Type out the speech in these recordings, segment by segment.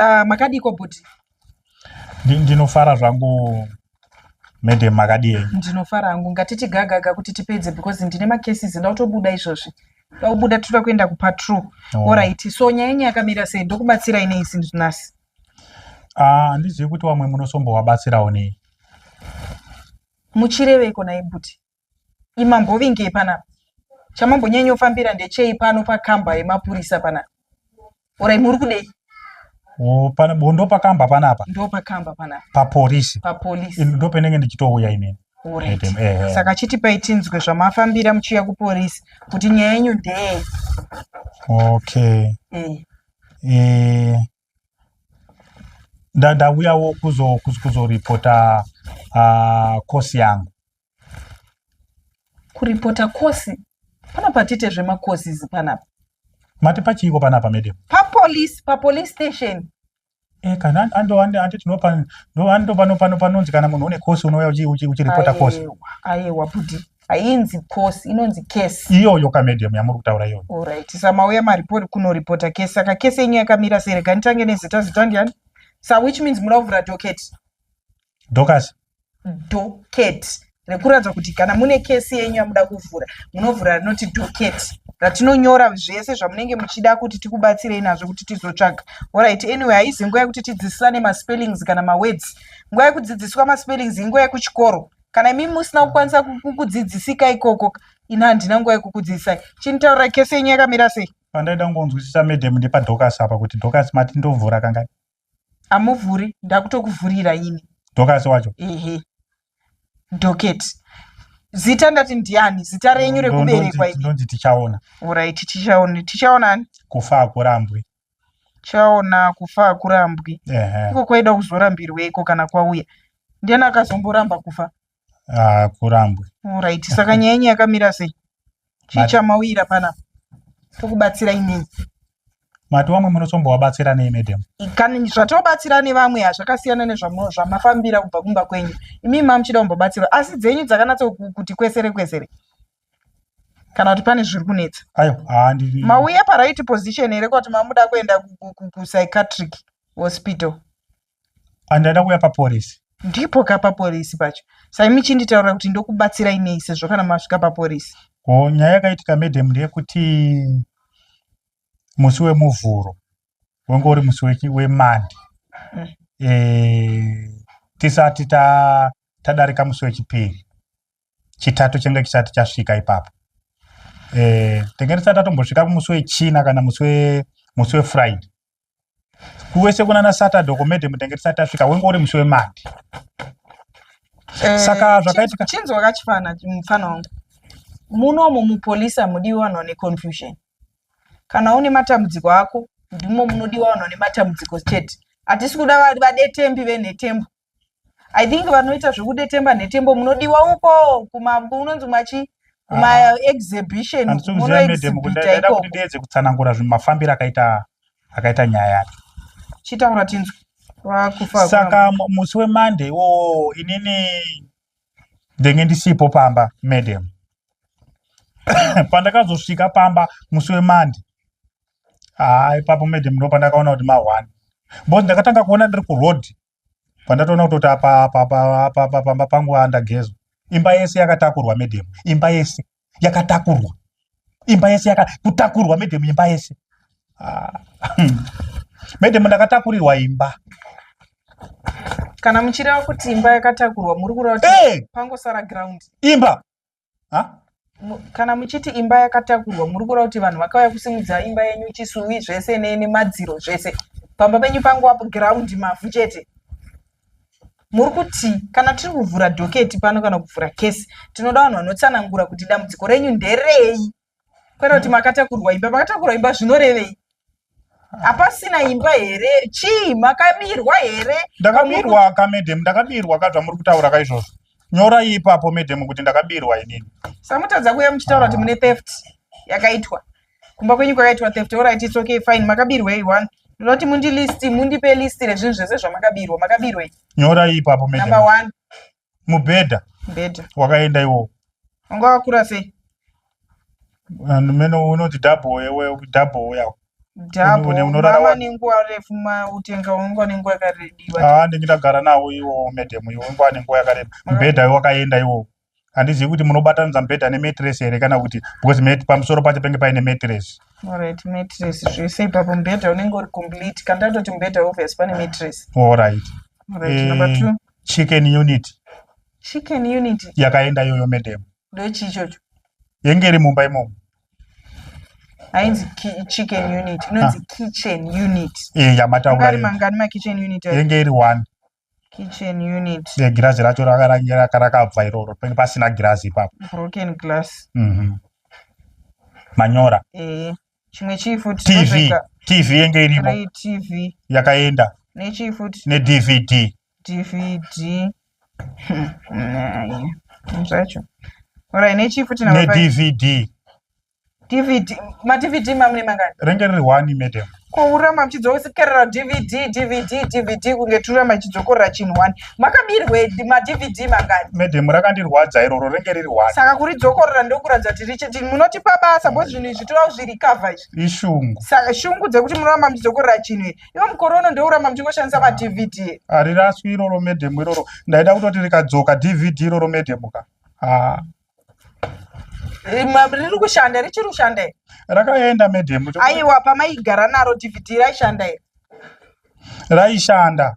Uh, makadiko bhuti ndinofara zvangu madam makadii ndinofara hangu ngatiti gagaga kuti tipedze because ndine macases nda kutobuda izvozvi daubuda toda kuenda kupatrol oh. orit so nyaya yenyu yakamira sei ndokubatsirai nei since nhasi ah, handizivi uh, kuti vamwe munosombovabatsirawo nei muchireveiko naibuti imambovingei panapa chamambonyanyofambira ndechei pano pakamba yemapurisa panapa orai muri kudei ndopakamba panapa ndopakamba panapa papolisi papolisi ndopenenge ndichitouya inini Right. Eh, eh. Saka chitipai tinzwe zvamafambira muchiuya kupolisi kuti nyaya yenyu ndeye. Okay. Eh. Eh, ndauyawo kuzoripota ah, kosi yangu kuripota kosi pana patite zvemakosis panapa mati pachiiko panapa madam papolice papolice station eh, kana andoati tinopa ndopano panonzi kana munhu une kosi unouya uchiripota kosi ayewa budi hainzi cos inonzi case iyoyo kamedium yamuri kutaura iyoyo orit samauya maripori kunoripota case saka case yenyu yakamira sei rega nditange nezita zita ndiani sa which means muda kuvhura docket dokas docket rekuratidza kuti kana mune case yenyu yamuda kuvhura munovhura rinoti docket ratinonyora zvese zvamunenge muchida kuti tikubatsirei nazvo kuti tizotsvaga orit anyway haizi nguva yekuti tidzidzisane maspellings kana mawords nguva yekudzidziswa maspellings inguva yekuchikoro kana imi musina kukwanisa kukudzidzisika ikoko ina handina nguva yekukudzidzisai chinitaurira kese yenyu yakamira sei pandaida kungonzwisisa madam ndepadhokasi apa kuti dhokasi mati ndovhura kangani amuvhuri ndakutokuvhurira ini dhokasi wacho ehe doketi zita ndati ndiani zita renyu rekuberekwa ndonzi tichaona urit tichaona tichaona ani kufa hakurambwi chaona kufa hakurambwi Ehe. iko kwaida kuzorambirweiko kana kwauya ndiani akazomboramba kufa Ah, kurambwe orit saka nyaya yenyu yakamira sei chii Mati- chamauyira panapa tokubatsirai nei mati wamwe munotombowabatsira nei madam kana zvatobatsira nevamwe hazvakasiyana nezvamu- zvamafambira kubva kumba kwenyu imimi mamuchida kumbobatsirwa asi dzenyu dzakanatso ku- kuti kwesere kwesere kana kuti pane zviri kunetsa ayo handiri mauya paraiti position here kuti mamuda kuenda ku- ku- ku- kupsychiatric hospital andaida kuuya papolisi ndipo ka papolisi pacho sai michinditaurira kuti ndokubatsirai nei sezvo kana masvika papolisi ko nyaya yakaitika madam ndeyekuti musi wemuvhuro wanga uri musi wechi- wemande Mm. Eh, tisati ta- tadarika musi wechipiri chitatu chenge chisati chasvika ipapo eh, tenge tisati tatombosvika kumusi wechina kana musi wefriday kuwese kunana saturday komedhe mutenge tisati tasvika wenge uri musi wemandi eh, saka zvakaitika chinzwa kachifana mufana wangu munomu mupolisi hamudiwi vanhu vane confusion kana une matambudziko ako ndimo munodiwa vanhu vane matambudziko chete hatisi kuda vadetembi venhetembo i think vanoita zvekudetemba nhetembo munodiwa uko unonzi machi kumaexhibition ah, munoexhibita ikoko kuti ndiedze kutsanangura zvimafambiro akaita akaita nyaya yake chitaura tinzwe saka musi wemonday iwowo inini ndenge ndisipo pamba madam pandakazosvika pamba musi wemonday haa ipapo madam ndo pandakaona kuti ma1 bcause ndakatanga kuona ndiri kuroad pandatoona kutoti apa apa apa apa apa pamba pangu andagezwa imba yese yakatakurwa medem imba yese yakatakurwa imba yese yaka kutakurwa medem imba yese ah. medem ndakatakurirwa imba kana muchireva kuti imba yakatakurwa muri kureva kuti hey! pangosara ground imba kana muchiti imba yakatakurwa muri kureva kuti vanhu vakauya kusimudza imba yenyu chisuvi zvese nemadziro zvese pamba penyu pangu apo giraundi mavhu chete muri kuti kana tiri kuvhura dhoketi pano kana kuvhura kesi tinoda vanhu vanotsanangura kuti dambudziko renyu nderei kwete kuti makatakurwa imba makatakurwa imba zvinorevei hapasina imba here chii makabirwa here ndakabirwa ka madam ndakabirwa ka zvamuri kutaura ka izvozvo nyorai ipapo madam kuti ndakabirwa inini samutadza kuuya muchitaura kuti mune theft yakaitwa kumba kwenyu kwakaitwa theft orit its okay fine makabirwei one ndinoti mundilisti mundipe listi rezvinhu zvese zvamakabirwa makabirwei nyorai ipapo madam number one mubhedha mubhedha wakaenda iwowo wanga wakura sei and mene unoti double yewe double yako double unorara nenguva refu utenga unga nenguva yakarediwa ah ndingi ndagara nawo iwo madam iwo unga nenguva yakareba mubhedha wakaenda iwo handizivi kuti munobatanidza mubhedha nemetres here kana kuti because met pamusoro pacho penge paine metres alright metres zvese ipapo mubhedha unenge uri complete kandatoti mubhedha obvious pane metres alright alright number eh, two chicken unit chicken unit yakaenda yoyo madam ndochii ichocho yenge iri mumba imomo hainzi chicken unit inonzi ah. kitchen unit eh, yamatauraangani makitchen unit yenge iri one kitchen unit e, girazi racho rakabva iroro penge pasina girazi ipapo broken glass mm -hmm. manyora e. chimwe chii futi tv tv yenge irimo tv yakaenda nechii futi nedvd dvd zvacho orai nechii futi nedvd dvd madvd mamune mangani renge riri one madam kourama muchidzokera dvd dvd dvd kunge turama chidzokorera chinhu one makabirwe madvd mangani madam rakandirwadza iroro renge riri one saka kuri dzokorora ndokuratidza kuti riche tini munotipa basa bcause zvinhu izvi torawo zviri cover izvi ishungu saka shungu dzekuti munoramba muchidzokorora chinhu iyi ivo mukore uno ndouramba muchingoshandisa madvd hariraswi iroro madam iroro ndaida kutoti rikadzoka dvd iroro madam ka ah. riri kushanda richiri kushanda here rakaenda medhemu aiwa pamaigara naro dvd raishanda here raishanda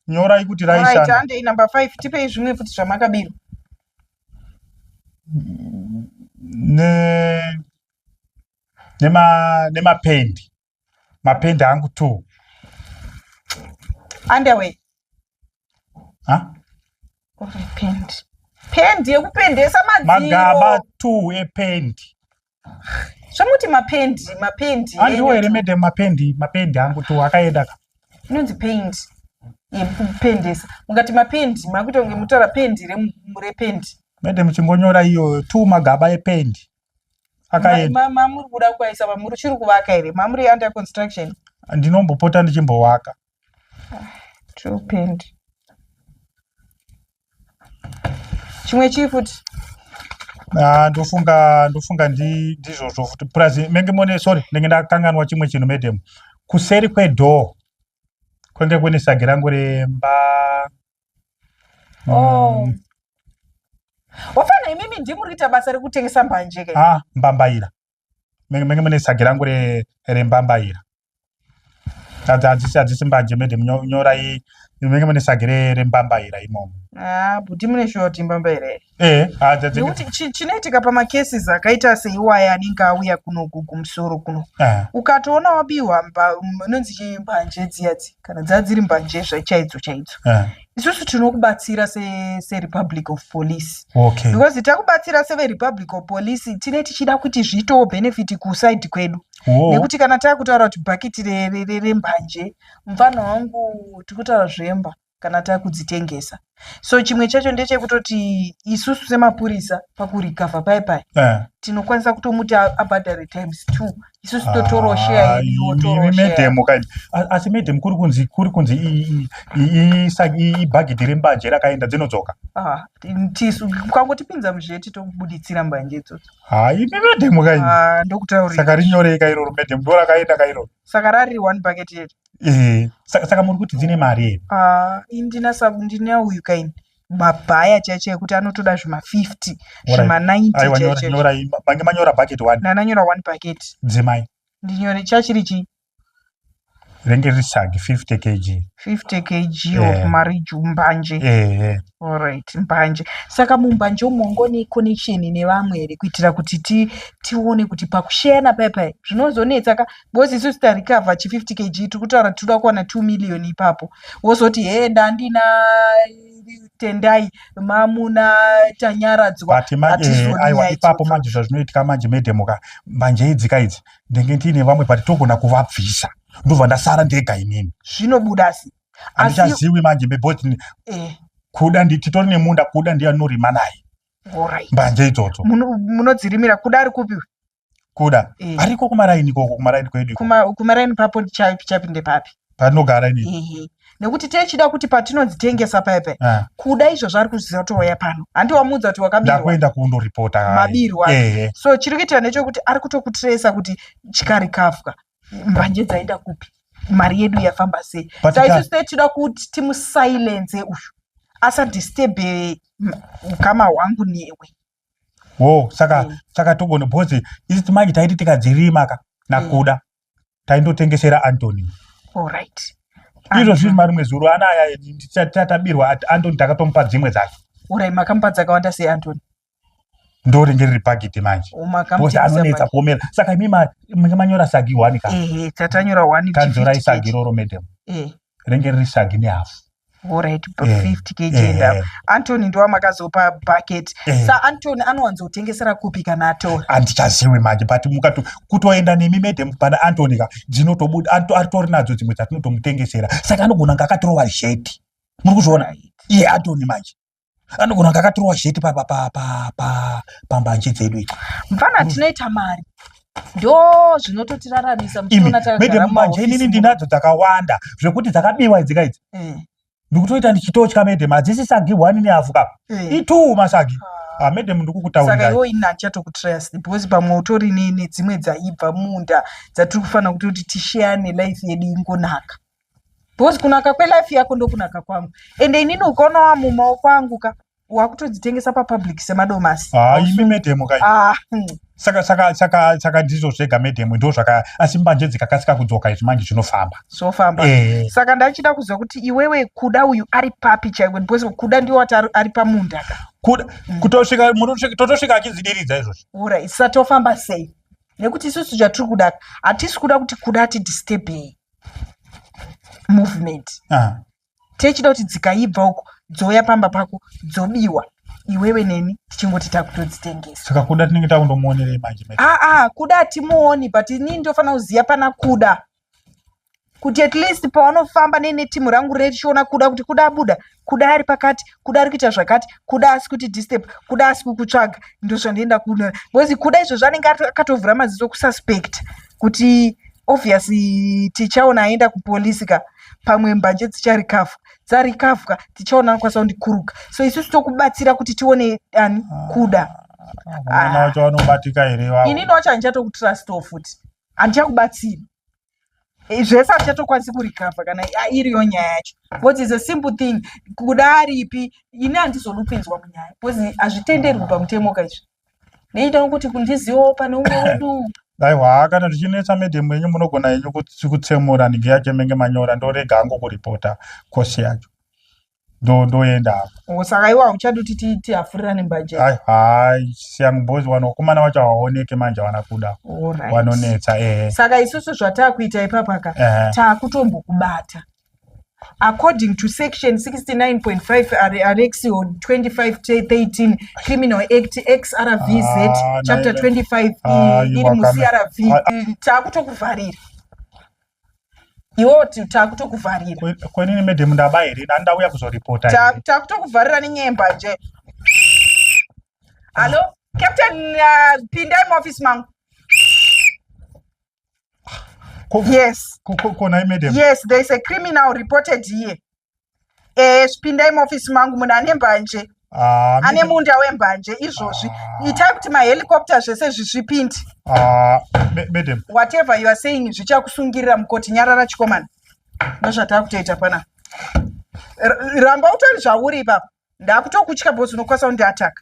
nyorai kuti raishandahandei number five tipei zvimwe futi zvamakabirwa nemapendi mapenda angu two underwear huh? uri pendi pendi yekupendesa magaba two ependi zvamuti mapendi mapendi andiwo here madam mapendi mapendi angu two akaenda ka inonzi paint yekupendesa mukati mapendi makuita kunge mutaura pendi rependi madam chingonyora iyo two magaba ependi akaenda mamuri kuda kuvaisa mamuri uchiri kuvaka here mamuri under construction ndinombopota ndichimbovaka true paint chimwe chii futi ah, ndofunga ndofunga ndizvozvo futi plus menge mone sorry ndenge ndakanganwa chimwe chinhu madam kuseri kwedoor kwenge kune sagi rangu remba Oh. Mm. Wafana imimi ndimu rita basa rekutengesa mbanje ke. Ah, mbambaira. Menge menge mune sagi rangu re re mbambaira. Tadza adzisi adzisi mbanje mede nyora i menge mune sagi re re mbambaira imomo. Ah, buti mune shoti mbambaira. Eh, ah, dzadze- nekuti chi- chinoitika pamacases akaita seiwaya anenge auya kuno ku- kumusoro kuno Ah, ukatoona wabiwa mba- m- inonzi chii mbanje dziya dzi kana dzaa dziri mbanje zva- chaidzo chaidzo ah, isusu tinokubatsira se- serepublic of police okay because takubatsira severepublic of police tine tichida kuti zviitewo benefit kusaidi kwedu Wo- nekuti kana takutaura kuti bhakiti re- re- re- rembanje mfana wangu tikutaura zvemba kana takudzitengesa so chimwe chacho ndechekutoti isusu semapurisa pakurikavha paye paye eh. tinokwanisa kutomuti abhadhare times two isusu ah, totorawo sheya medhemu kaini asi medhemu kuri kunzi kuri kunzi ibhagidhi rembanje rakaenda dzinodzoka ah, tisu ukangotipinza muzveti tokubuditsira mbanje idzodzo ha imi medhemu kaini ah, ndokutaurira saka rinyorei kairoro medhemu ndo rakaenda kairoro saka rari one bucket yeti Eh, saka saka muri kuti dzine mari here Ah, indina sabu ndina uyu kaini mabhaya chaicho ekuti anotoda zvima 50 Alright. zvima 90 aiwa nyora- chaicho nyorai ma- mange manyora bucket one ndananyora one packet dzemai ndinyore chachiri chi renge riri sagi 50 kg 50 kg of Yeah. marriage mbanje Eh, eh. alright mbanje saka mumbanje umo ngone connection nevamwe here kuitira kuti ti, tione kuti pakusheyana paya paya zvinozonetsa ka because isu sita recover chi 50 kg tiri kutaura tinoda kuwana 2 million ipapo wozoti hee ndandina tendai mamuna tanyaradzwa but manje eh, aiwa ipapo manje zvazvinoitika manje medemoka manje idzika idzi ndenge ndiine vamwe but togona kuvabvisa ndobva ndasara ndega inini zvinobuda si handichaziwi manje beboti eh. kuda titori nemunda kuda ndiye anorima naye mbanje idzodzo munodzirimira kuda ari kupi kuda eh. ariko kumaraini ikoko kumaraini kwedu kumaraini papo chapinde papi panogara ini nekuti techida kuti patinodzitengesa paipai ah. kuda izvo zvaari kuzviziva touya pano handi wamuudza kuti wakabirwakuenda kundoripota mabirwa so chiri kuitika nechokuti ari kutokutiresa kuti chikari kafwa mbanje dzaenda kupi mari yedu yafamba sei saisu techida kuti timusilenze uyu asadisturbe ukama hwangu newe wo saka mm. saka togona bhozi isiti manje taiti tikadzirima ka nakuda mm. taindotengesera antony olright izvo zviri marimwe zuro anaya tatabirwa ati antony takatomupa dzimwe dzacho urai makamupa dzakawanda sei antony ndo ringe riri pagiti manje bhozi anonetsa kuomera saka imi manga manyora sagi one ka tatanyora one kanzorai sagi roro madam eh. renge riri shagi nehafu Alright, but Eh, 50 kg eh, and up. eh. Anthony ndiwa makazopa bucket. Eh. Sa Anthony anowanzotengesera kupi kana atora? handichaziwi manje but mukato kutoenda nemi madam pana antony ka dzinotobuda ato- atori nadzo dzimwe dzatinotomutengesera saka anogona kunge akatirova zheti muri kuzviona iye antony manje anogona kunge akatirwa sheti pambanje dzedu i mfana mm. tinoita mari ndo zvinototiraramisa manje inini ndinadzo dzakawanda zvekuti dzakabiwa idzika idzi mm. ndikutoita ndichitotya madam hadzisi sagi one nehafu ka mm. itwo masagi ah. Ah, madam ndikukutaurira iwo ini handichatokutrust because pamwe utori nedzimwe dzaibva munda dzatiri kufanira kuti kuti tisheyane life yedu ingonaka because kunaka kwelife yako ndokunaka kwangu ende inini ukaona wamumaoko angu ka wakutodzitengesa papublic semadomasi ah, imi medemo kai ah, hmm. saka saka saka saka ndizvo zvega medemo ndo zvaka asi mbanje dzikakasika kudzoka izvi manje zvinofamba zvofamba eh. saka ndachida kuziva kuti iwewe kuda uyu ari papi chaiwe because kuda ndiwo wati ari pamunda ka kuda mm. kutosvika totosvika achizidiridza izvozvo ura isatofamba sei nekuti isusu zvatiri kuda hatisi kuda kuti kuda ati disturbei movement ah. techida kuti dzikaibva uko dzouya pamba pako dzobiwa iwewe neni tichingoti takutodzitengesa saka kuda tinenge takundomuonerei manje aa ah, ah, kuda hatimuoni but inini ndofanira kuziva pana kuda kuti at least pawanofamba neinetimu rangu rechiona kuda kuti kuda buda kuda ari pakati kuda ari kuita zvakati kuda asi kuti disturb kuda asi kukutsvaga ndozvandienda kuno because kuda izvozvo anenge akatovhura maziso kususpect kuti obvious tichaona aenda kupolisi ka pamwe mbanje dzicharikavha dzarikavha tichaona anokwanisa kundikuruka so isusu tokubatsira kuti tione ani kuda ah, ah. ini nowacho handichatokutrustwo futi handichakubatsira zvese hatichatokwanisi kurikavha kana iriyo nyaya yacho bcause is a simple thing kuda aripi ini handizonopinzwa munyaya bcause hazvitenderwi pamutemo ka izvi neitawo kuti kundiziwo pane umwe wedu aiwa kana zvichinetsa medhemu yenyu munogona yenyu kutsemura nigi yake menge manyora ndorega angokuripota kosi yacho ndo ndoenda hapo. Saka iwa uchadi kuti ti ti afurira ne mbanje. Hai hai siyangu boys wano kumana wacho haoneke manje wana kuda. Alright. Wanonetsa eh. Saka isusu zvataa kuita ipapa ka eh. taa kutombo kubata. According to section 69.5 RX 2513 Criminal Act XRVZ ah, chapter 25 ah, iri mu CRV taa kutokuvharira. iwewo takutokuvharira kwenini madam ndaba here dani ndauya kuzoripota takutokuvharira nenyemba nje hallo captain uh, pindai muoffice mangu yes konai madam yes there is a criminal reported here eh pindai muofisi mangu munhu ane mbanje ah, ane munda wembanje izvozvi ah. itai kuti mahelicopter zvese zvizvipindi ah, madam whatever you are saying zvichakusungirira mukoti nyarara chikomana ndozvatava kutoita pana ramba utori zvauri ipapa ndakutokutya bhozi unokwanisa kundiataka